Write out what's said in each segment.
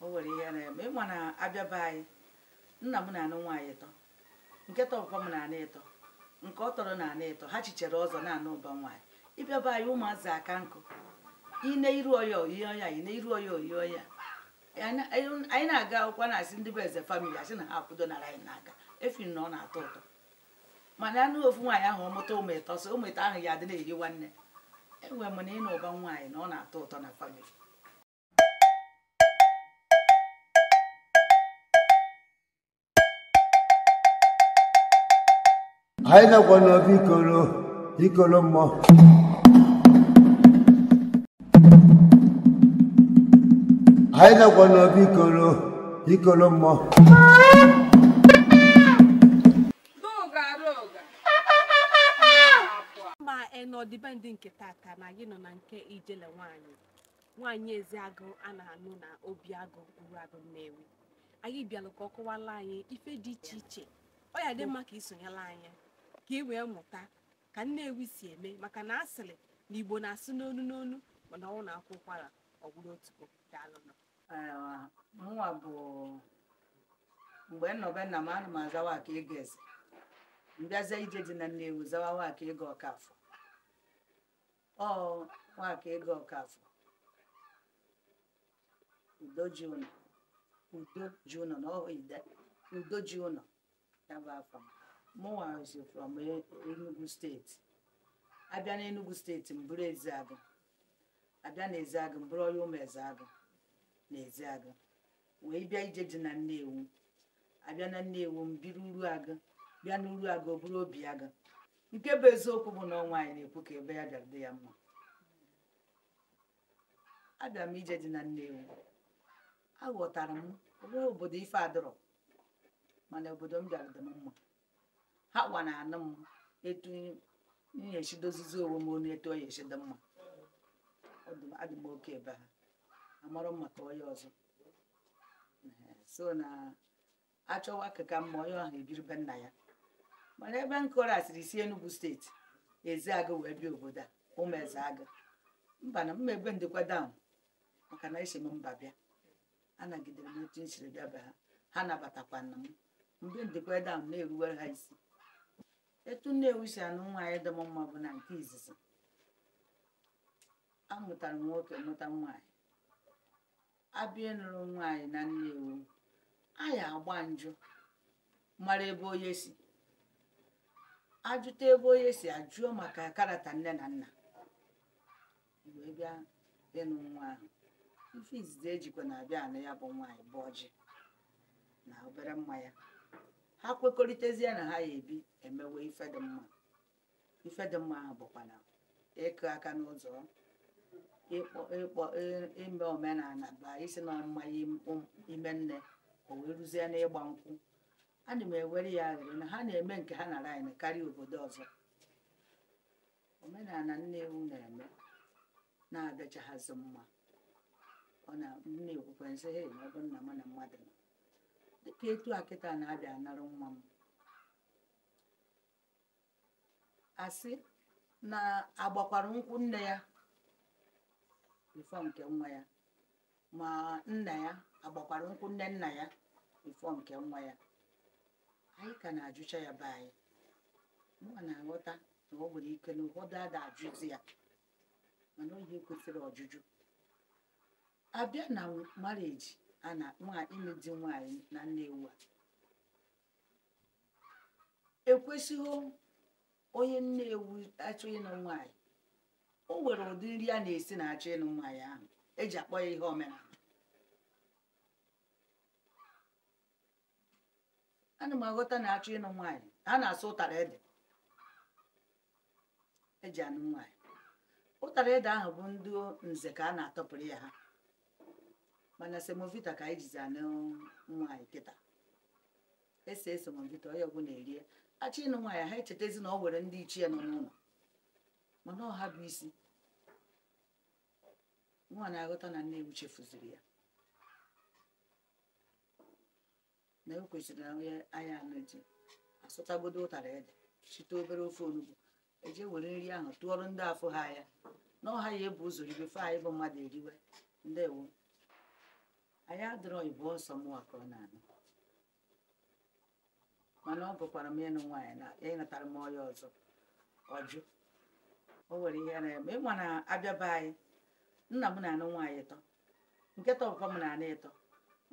o nwere ihe na-eme ịma na a bịa be anyị nna m na-anụ nwaanyị ịtọ nke tọkwa m na-anụ ịtọ nke ọ tọrọ na-anụ ịtọ ha chichere ọzọ na-anụ ụba nwaanyị ị bịa be anyị ụmụazị aka nkụ ine iru ọya oyi ọya ine iru ọya oyi ọya anyị na-aga akwụkwọ na-asị ndị be eze famili asị na ha akwụdo nara anyị n'aka efi na ọ na-atọ ụtọ mana anụ ofu nwaanyị ahụ ọ mụta ụmụ ịtọ so ụmụ ịtọ ahụ ya adị na-eyi nwanne enwere m na ịnụ ụba nwaanyị na ọ na-atọ ụtọ na famili anyị nakwa n'obi ikoro ikoro mmụọ anyị nakwa n'obi ikoro ikoro mmụọ ma n'ọdịbendị nke tata na gị nọ na nke ijele nwanyị nwaanyị Ezeagụ a na-anụ na Obiagụ Uruagụ Nnewi anyị bịalụ ka ọ kọwala anyị ife dị iche iche ọ ya-adị mma ka i sonyela anyị ka ị wee mụta ka Nnewi si eme maka na a sịrị na Igbo na-asụ n'onu n'onu mana ọ na-akwa ụkwara ọ bụrụ otu o daalụnụ mụnwa bụ mgbe m nọ be nna m ana m aza Nwakaego Eze m bịazie ije di na Nnewi zawa Nwakaego Ọkafọ ọ Nwakaego Ọkafọ udo ji ụlọ udo ji ụlọ na ọhụ ide udo ji ụlọ ya bụ afa mụnwa si from E- Enugu steeti a bịa na Enugu steeti m bụrụ Ezeagụ a bịa na Ezeagụ m bụrụ onye ụmụ Ezeagụ na Ezeagụ wee bịa ije di na Nnewi a bịa na Nnewi m biri Uruagụ bịa n'Uruagụ ọ bụrụ Obiagụ nke bụ eziokwu bụ na ọ nwaanyị na-ekwu ka ebe ya bịara dị ya mma abịa m ije di na Nnewi aghọtara m o nwe obodo ife adọrọ mana obodo m bịara dị m mma hanwa na-anụ m etu m ya-esi dozizi onwe m ọnụ etu ọ ya-esi dị m mma adị m okay be ha amarọ m maka onye ọzọ sọ na a chọwa ke ka mma onye ahụ ebiri be nna ya mana ebe nkọrọ asịrị si Enugu steeti Ezeagụ wee bịa obodo a ụmụ Ezeagụ mba na mma ebe m dịkwa down maka na esi m mba bịa a nagidere m otu m siri bịa be ha ha nabatakwanụ m mgbe m dịkwa down na-eruwere ha isi etu Nnewi si anụ nwaanyị dị m mma bụ na nke izizi amụtara m nwoke mụta nwaanyị a bịa ịnụrụ nwaanyị na Nnewi a ya-agba njụ mara ebe onye si ajụta ebe onye si ajụọ maka character nne na nna wee bịa ịnụ nwa ahụ ife izizi ejikwa na-abịa anụ ya bụ nwaanyị bụ ọjị na obere mmanya ha kwekọrịtazie na ha ya ebi emewe ife dị mma ife dị mma ahụ bụkwa na ịkụ aka n'ụzọ ịkpọ ịkpọ ị- ime omenala bụ isi na ọmụma ime nne o wee ruzie n'ịgba nkwụ ana m ewere ya ewere na ha na-eme nke ha nara ọnụ karịa obodo ọzọ omenala Nnewi na-eme na-adịchaghazị mma ọ na m na-ekwukwa nsị he ọ bụ nna m na mmadụ nọ dịka etu a kịta na-abịa anara nwa m asị na agbakwara nkwụ nne ya before nke nwa ya ma nna ya agbakwara nkwụ nne nna ya before nke nwa ya anyị ka na-ajụcha ya be anyị mụwa na-aghọta na ọ nwere ike na ụfọdụ ada ajụzi ya mana ọ ihe kwesịrị ọjụjụ abịa na marriage a na ịlụ di nwaanyị na Nnewi a ekwesịghị onye Nnewi achọ ịnụ nwaanyị o nwere ụdị nri a na-esi na achọ ịnụ nwaanyị ahụ eji akpọ ya ihe omenala ana m aghọta na achọ ịnụ nwaanyị a na-asụ ụtara ede eji anụ nwaanyị ụtara ede ahụ bụ ndị nze ka a na-atọpụrụ ya ha mana semovita ka anyị jizi anụ nwaanyị kịta esie semovita onye ọbụla erie achọ ịnụ nwaanyị ha echetezi na ọ nwere ndị ichie nọ n'ụlọ mana ọ ha bụ isi mụwa na-aghọta na Nnewi chefuziri ya na o kwesịrị na onye anya anụ ji asụtagodo ụtara ede site obere ofe onugbu eje were nri ahụ tụọrọ ndị afụhọ anya na ọ ha ya ebu ụzọ rie before anyị bụ mmadụ eriwe ndewo anyị adịrọ ịbụ ọsọ mụwa ka ọ na-anụ mana ọ bụkwara m ịnụ nwaanyị na ya natara m ọya ọzọ ọjụ o nwere ihe na-eme ịma na abịa be anyị nna m na-anụ nwaanyị ịtọ nke tọkwa m na-anụ ịtọ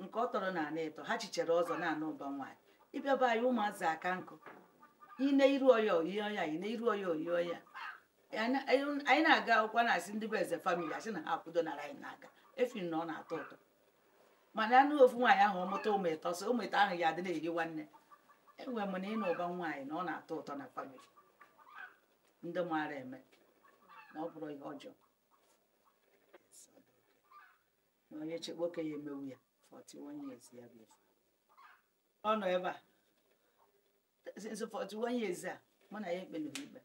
nke ọ tọrọ na-anụ ịtọ ha chichere ọzọ na-anụ ụba nwaanyị ịbịa be anyị ụmụazị aka nkụ ine iru ọya oyi ọya ine iru ọya oyi ọya anyị na-aga akwụkwọ na-asị ndị be eze family asị na ha akwụdo nara anyị n'aka efi na ọ na-atọ ụtọ mana anụ ofu nwaanyị ahụ ọmụta ụmụ ịtọ so ụmụ ịtọ ahụ ya adị na-eri nwanne enwe m na ịnụ ụba nwaanyị na ọ na-atọ ụtọ na family ndị maara eme na ọ bụrọ ihe ọjọọ na onye chekwa oke ya emewu ya 41 years ya bụ ife ọ nọ ebe a since 41 years a mụ na ya ekpeleghị ikpe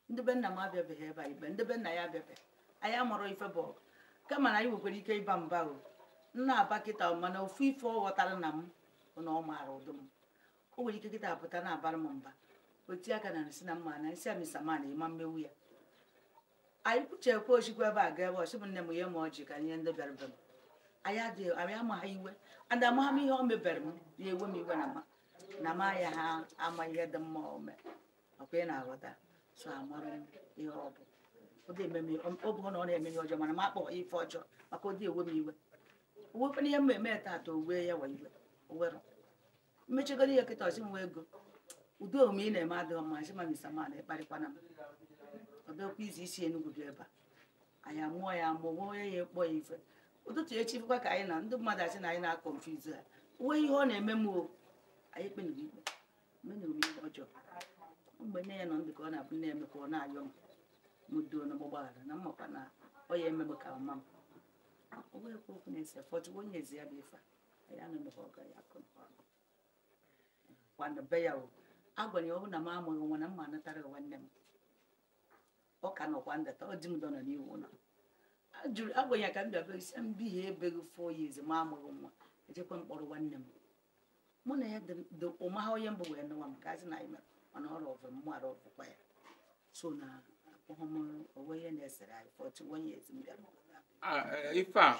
ndị be nna m abịabeghị ebe a ikpe ndị be nna ya abịabeghị anyị amarọ ife bụ ọgụ kama na anyị nwekwara ike ịba mba o ọ na-aba kịta mana ofu ife ọ ghọtara na m bụ na ọ maara ụdị m o nwere ike kịta pụta na-abara m mba o tie aka na nsị na mma na nsị a mister man ịma mmewu ya anyị kwuchekwa o sikwa ebe a ga ebe ọ sị bụ nne m ye m ọjị ka e ye ndị bịara be m anyị adịghị anyị amaghị iwe and amaghị m ihe o mebere m ya ewe m iwe na ma na ma ya ha ama ihe dị mma o mee ọkwa ị na-aghọta so amarọ m ihe ọ bụ ọ ga-eme m ihe- ọ bụ na ọ na-eme ihe ọjọọ mana m akpọ ife ọjọọ maka ọ dị ewe m iwe o nwekwana ihe m eme tata o wee ya wa iwe o nwere m mechegoro ihe kịta ọ sị Nwaego ụdị omume ị na-eme adịghị mma sị ma mister man akparịkwana m ọ bịakwa izu o si Enugwu bịa ebe a anyị amụọ ya amụọ nwe onye ya ekpọ ya ife ụtụtụ echi bụkwa ka anyị na ndị mmadụ asị na anyị na-confuse ha uwe ihe ọ na-eme m o anyị ekpenughị ikpe menụrụ m ihe ọjọọ mgbe nne ya nọ ndụ ka ọ na-abụ na-eme ka ọ na-ayọ m m doo na m gbaghara na mmakwa na ọ ya emebe ka mma m ọ bụghị ekwu okwu na-ese 41 years ya bụ ife a ya na mgbe ọ ga ya akụ kwana be ya o agwara ya ọ bụ na m amụghị nwa na mma anatara ya nwanne m ọ ka nọkwa ndụ taa ọ di m dọna n'iwu ụlọ ajụrụ agwa ya ka m bịa isi m bi ha ebeghị 4 years m amụghị nwa ejekwa m kpọrọ nwanne m mụ na ya dị ụma ha onye mbụ wee nụwa m ka azị na anyị mere mana ọ rọvụ m mara ọvụkwa ya so na akpọghọ m o nwe ihe na-esere anyị 41 years m bịara ife a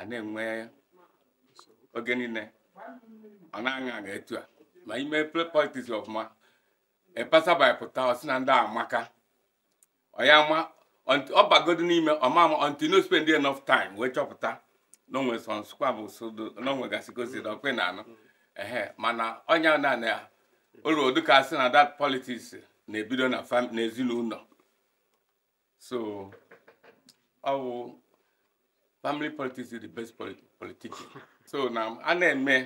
a na-enwe oge niile ọ na-aṅa aṅa etu a ma ime play politics ọfụma ịpasa by pụta ọ sị na ndị amaka ọ ya ma until- ọ bagodo n'ime ọ ma ama until na o spend enough time wee chọpụta na onwe sọ nsụkwa bụ sodo na onwe gasị gosi na ọkwe na anụ ehe mana ọnya na na ya ọrọ dịka a sị na that politics na-ebido na fam- n'ezinụlọ so ọ bụ family politics is the best politi- politics so na a na-eme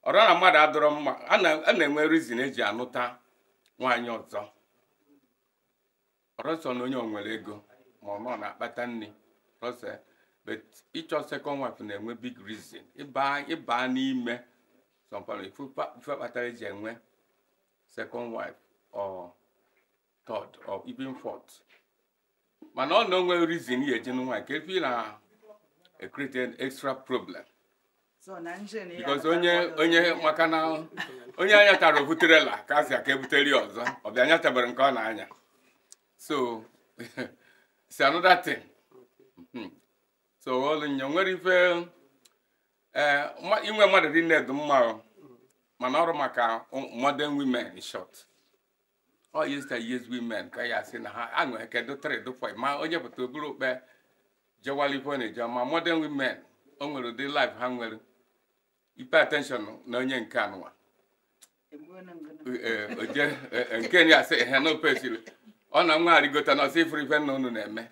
ọrọ na mmadụ adịrọ mma a na- a na-enwe reason eji anụta nwaanyị ọzọ ọrọ sọ na onye o nwere ego ma ọ nọ na-akpata nri ọrọ sọ but ịchọ second wife na-enwe big reason ịba ịba n'ime some family ife kpa- ife kpatara eji enwe second wife or third or even fourth mana ọ na-enwe reason ya eji nwaanyị ka efi na create an extra problem because onye onye maka na onye anya tara obuterela ka asị ka e butere ya ọzọ ọ bịa anya tabara nke ọ na-anya so it's another thing hmm. so ọlụ nya nwere ife eh, inwe mmadụ dị nne dị mma mana ọrụ maka modern women in short ọ yesteryears women ka ya sị na ha aṅụghị kedu three do five ma onye pụta o buru okpe jewala ife ọ na-eje ma modern women o nwere ụdị life ha nwere ị pay attention na onye nke anụwa Ee, o je- ee, ee, nke ya sị ha na opesiri ọ na nwa arịgota na ọ sị ị furu ife nna unu na-eme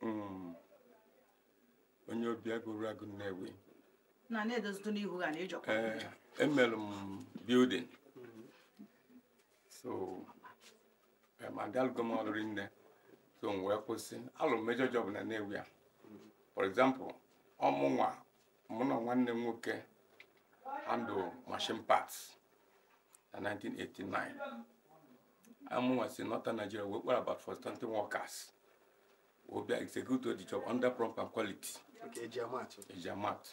hmm. onye obi agụrụ agụ nnewi eh, emelụ m building so eh, ma alụgo m ọlụ rinne so m wee kwụsị alụ major job na nnewi a for example ọ mụnwa mụ na nwanne m nwoke handle machine parts na 1989 ọ mụnwa si northern nigeria wee kpọrọ about forty something workers wee bịa execute the job under prompt and quality Nke eji ama atụ. eji ama atụ